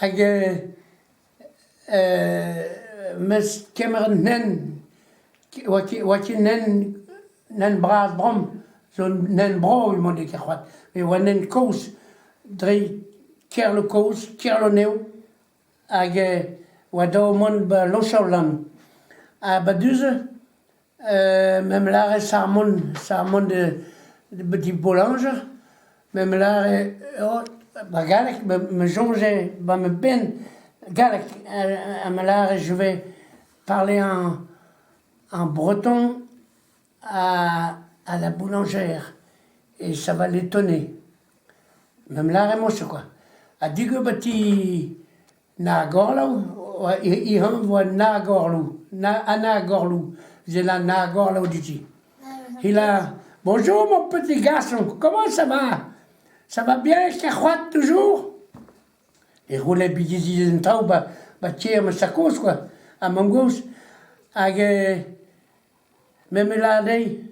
hag mes kemer un nen oa ket nen nen bras bramm zo un nen brav eo mont ket ket c'hoazh met oa nen kozh dre Kerlo kozh Kerlo nev hag oa dav mont ba Lochaolan ha ba du-se M'em lâre sarmon, sarmon de de Boulanger, m'em lâre oh ba galleg, me soñje ba ma benn galleg ha me lâre je vais parler en en breton à à la boulangère et ça va l'étonner. M'em lâre moa-se koa. Ha digor ba ti Nagorloù he anv eo Nagorloù, ha Nagorloù, evel an Nagorloù dit-i. Helañ, bonjour mon petit garçon, comment ça va? Ça va bien avec ta c'hoad toujours? E c'houlenn bigi an taol ba tier ma sakoz kwa, ha mangoz, hag memes lâret dezhi,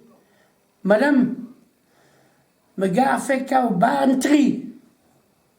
madame, me garfe kaout barn tri.